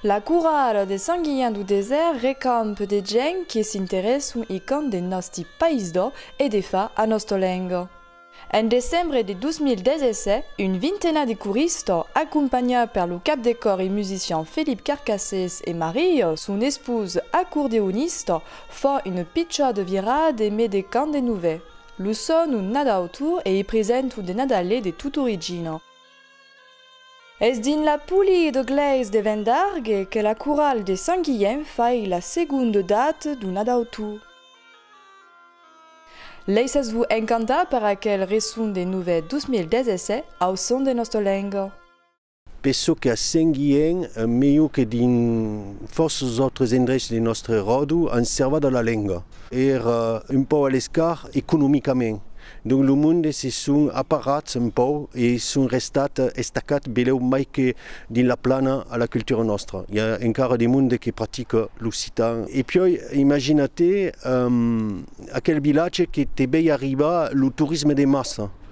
La corralha de Sant Guilhèn du Desèrt recamp de gents que s'interèson e qu'an de nòsti país d'ò e de fa a nòsta lenga. En decembre de 2017, un vintena de corista, acompanhat per lo cap de còr e musician Felip Carcassés e Maria, son esposa, acordeonista, fa una pichada virada e me de cant de novèl. Lo son un nadautor e i present un de nadalè de tot origina. Es dins la poli de glèis de Vendargue que la coral de Sant Guilhem fai la segonde date d'un nadautor. Laissas-vos encantar per aquel reson de novèth 2017 au son de nosta lenga. Per çò que a Saint-Gihén, melhor que dins fòrças autres endrechs de nòstre ròdo, an servat a la lenga. Èra un pauc a l'escart economicament. Donc lo monde se son aparrats un pauc e son restat estacats belèu mai que dins la plana a la cultura nòstra. I a encara de monde que practica l'occitan. E piòi, imagina-te aquel vilatge que te vei arribar lo torisme de massa.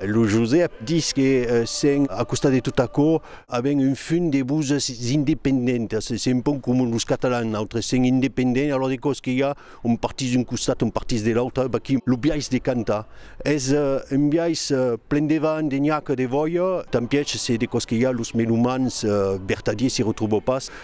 Lo Josèp dis que sen a costat de tot aquò avèm un fum de voses independentas, se un pauc coma los catalans, nautres sem independents, alòra de còps que i a un partís d'un costat, un partís de l'autre, vaquí lo biais de cantar, es un biais plen de vent, de nhaca, de vòia, tant pièch se de còps que i a los melomans vertadiers se retròva pas.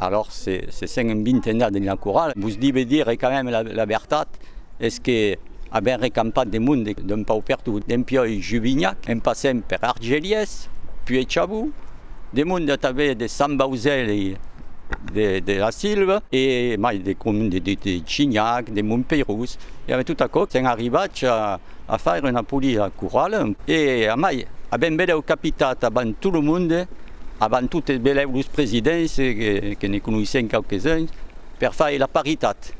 Alòrs se se sent un bintenat dins la corala, vos dibe dire quand même la vertat, es que avèm recampat de monde, d'un paupertu dempiòi Juvignac, en passent per Argelies, puèi Chabou, de monde atavèr de Sant Bauzèli de la Silva e mai de comune de Chinhac, de Montpeirós, e avèm tot aquò, sèm arribats a. a faire una polida corrala e a mai, a ben belèu capitat avant tot lo monde, avant totes belèu los presidents, que ne conoissèm quauques uns, per faire la paritat.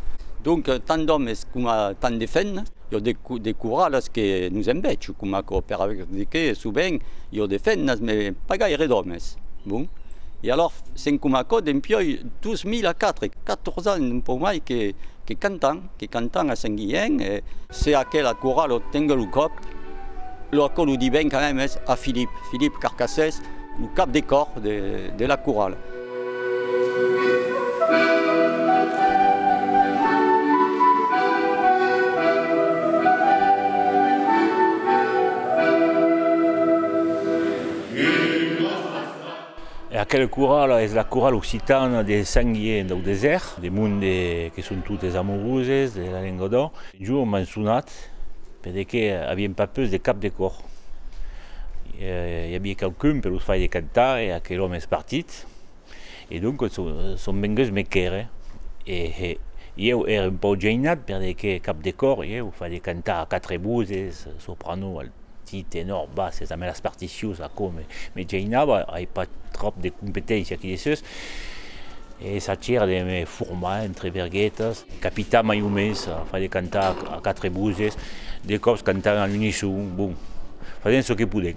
Donc tant d'òmes coma tant de femna, jo de corralas que nos en vètz coma aquò, per aver de qué sovent jo de femnas me pas gaire d'òmes, bon, e alors sent coma aquò dempiòi 2004, 14 ans un pauc mai que cantam. Que cantan a Saint Guilhèn e se aquela corala o tengue lo còp, lo aquò lo diven quand même es a Philippe, Philippe Carcassès, lo cap de còr de la corala. E aquela corala es la corala occitana de Saint-Guier dau Desèrt, de monde que son totes amoroses de la lenga d'ò. Un jorn m'an sonat per de que avien pas pus de cap de còr. I avia quauqu'un per los fai de cantar e aquel òme es partit. E doncas son venguts me quèrre e ieu ère un pauc geinat per de que cap de còr ieu fai de cantar a quatre voses, soprano, alt. Ti tenor basses damb las particions aquò me me geinava, ai pas tròp de competéncia aquí dessús e sachèra de me formar entre verguetas, capitar mai o mens, far de cantar a quatre voses, de còps cantar a l'unisson, bon, fasent çò que podent.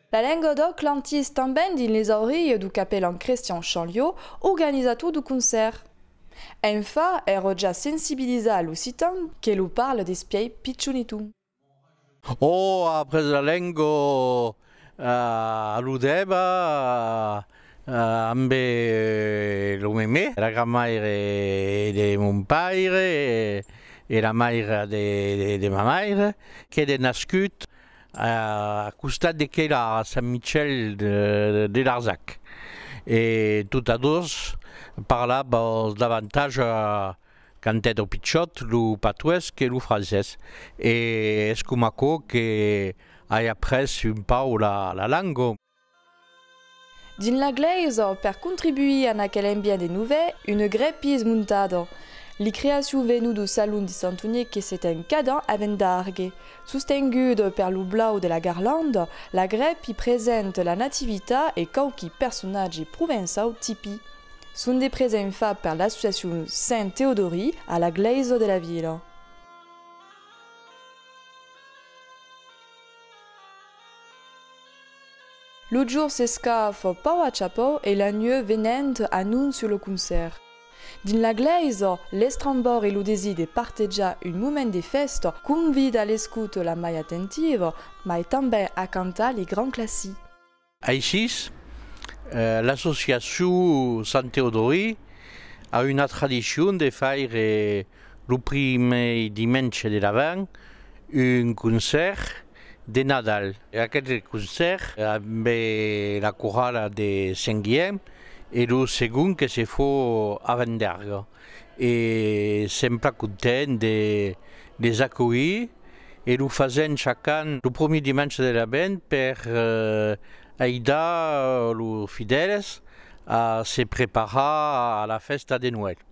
La Lengodòc l'antís tanben dins les aurilhes du capelan Crestian Chanliò, organizator du concèrt. Enfa, èrò ja sensibilizar a l'occitan que lo parle despièi pichonitu. Ò après la lengo aludèva ambe lo memé, la granmaire de mon paire e la maira de ma maire, qu'ère nascut a costat de quai la Sant Michèl de Larzac e tota dos parlava als davantatge quand èra pichòt lo patuesc e lo francés e es coma aquò que ai après un pauc la langa. Dins la glèisa, per contribuir a aquel ambient de novèl, una grèpi es montada. Li creacion venu do salon de Sant Unic que se ten cada an a Vendargue. Sostenguda per lo blau de la garlanda, la grèpi present la Nativita e quauqui personatge provençau tipi. Son de present fat per l'associacion Saint Teodori a la glèisa de la vila. Lo jorn s'escafa pauc a chapau e la nuèu venent anóncia lo concèrt. Dins la glèisa, l'estrambor e lo desir de partejar un moment de fèsta convida a l'escouta la mai atentiva, mai tanben a cantar li grands classics. Aicis, l'associacion Sant Teodori a una tradicion de faire lo primièr dimenge de l'avent un concèrt. de Nadal. Aqueth concèrt ambe la corala de Sent Guièm e lo segon que se fò a Venderga e sèm plan content de les acolhir e lo fasèm chac'an lo promier dimensha de l'Avent per aidar los fidèles a se preparar a la fèsta de Noèl.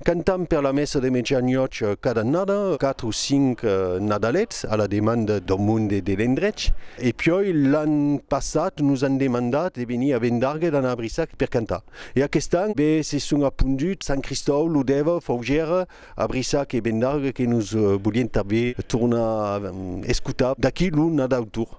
Cantam per la messa de mejanòch cada annada, quatre o cinc Nadalets, a la demanda dau monde e de l'endrech. E piòi l'an passat nos an demandat de venir a Vendargues d'anar a Brissac per cantar. E aquest an be se son aponduts Sant Cristòu, Lodèva, Faugèra, a Brissac e Vendargues que nos volien tanben tornar escotar d'aquí lo Nadau Tour.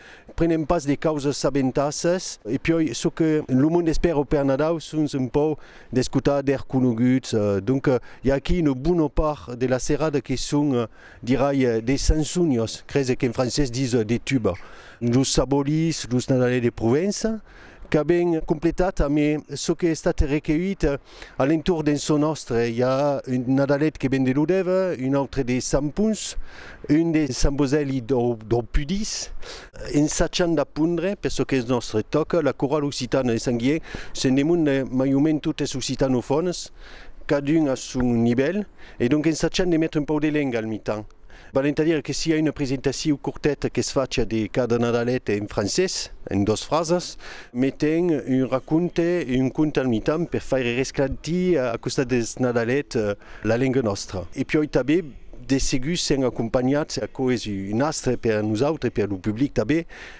Prenem pas de causas sabentasses e piòi çò que lo monde espèra per Nadau son un pòu d'escotar d'èr conoguts, donc i a aquí una bona part de la serada que son dirai de sansonios, crese qu'en francés dis de tuba, los sabolis, los nadalais de Provença. qu'a ben completat amé çò qu'es estat recueillit a l'entorn d'en çò nòstre. I a un nadalet que ven de Lodève, un autre de Sant Pons, un de Sant Bosèli dau Pudís. Ensachant d'apondre, per çò qu'es nòstre, tòca la corala occitana de Sant Guilhèn, se'n demonde mai o mens totes occitanofònes, cadun a son nivèl, e donc ensachant de metre un pauc de lenga al mitan. Val entadire que siá una presentaciu corteta que's facia de cada Nadalet en francés, en dos frasas, me ten un raconte e un conte al mitan per faire resclantir a costat deth Nadalet la lenga nòstra. E piòi tanben de segur s'èn acompanhats, aquò es un astre per a nosautres e per lo public tanben,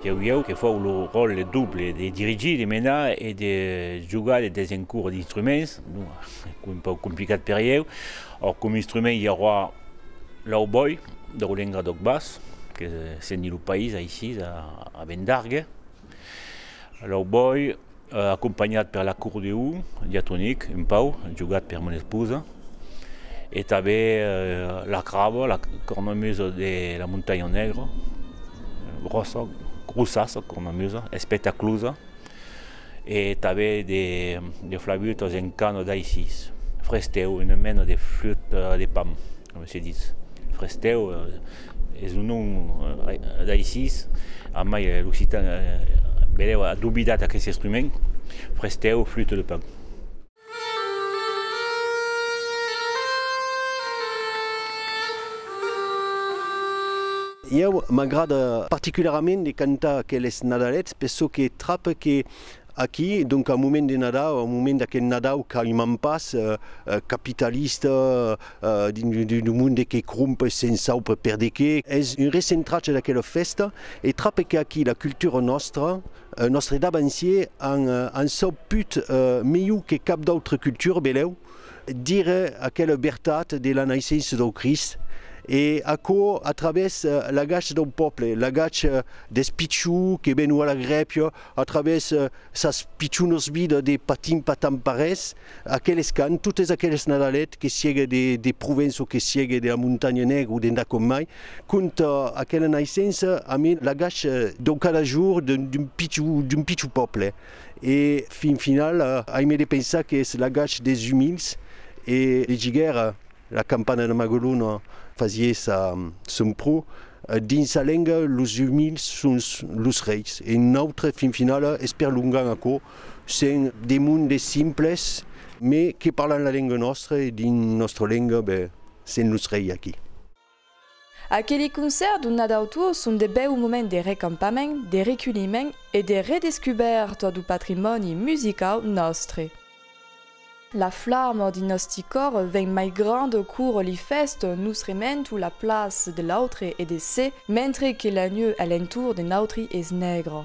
Deu ieu que fau lo ròtle doble de dirigir, de menar e de jogar de desencura d'instruments, un pauc complicat per ieu. Òc, coma instrument i auroa l'aubòi, deu lenga d'òc bas, que se n'di lo país aicí, a Vendargue. L'aubòi. acompanhat per l'acordeu diatonic un pauc jogat per mon esposa e tanben la craba, la cornamusa de la Montanha Negra, grossa, grossassa cornamusa, espectaclosa e tanben de flaütas en cana d'Aisís, frestèu, una mena de flüta de pan. Coma se ditz, frestèu es un nom d'aicis, a mai l'occitan benèu a dobidat aqueste estrument, frestèu, flute de pan. Ieu m'agrada particularament de cantar aqueles nadalets, per çò que trape que Aquí, donc au moment de Nadau, au moment d'aqueth Nadau qu'aimam pas, capitalista, d'un monde que cromp se'n saupe per de qué, es un recentratge d'aquela fèsta e trape qu'aquí la cultura nòstra, es nòstre davancier, an sauput melhor que cap d'autra cultura, velèu dire aquela vertat de la naissença dau Crist, e aquò a travèrs l'agach dau pòble, l'agach deth pichon que ven ua lagrèpia, A travèrs sas pichonas vidas de patin patan parés, aqueles cants, totes aqueles Nadalets, que siege de Provença o que siege de la Montanha Negra o d'endà com mai, conta aquela naissença amb l'agach dau cada jorn d'un pichon, d'un pichon pòble. E fin finala, aimé de pensar qu'es l'agach des umils e de giguèra. La campana de Magalona fasièssa son pro. Dins sa lenga, los umils son los reis e nautre fin finala esperlongam aquò, sent de mond de simples mai que parlan la lenga nòstra e dins nòstra lenga, ben, sent los reis aquí. Aqueli concèrt donat autour son de bèu moment de recampament, de reculhiment e de redescubèrta du patrimòni musicau nòstre. La flamor dins nòsti còr ven mai granda cour li fèst nos rementu la plaç de l'autre e de se, mentre que la neu a l'entour de nautri es nègra.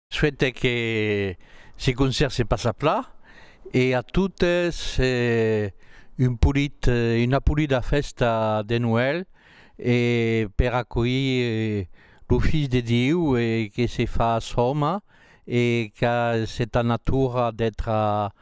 Suète que se concert se passa pla e a totes un polit, una polida fèsta de Noèl e per acolhir lo Filh de Diu que se fas òme e qu'a seta natura d'ètra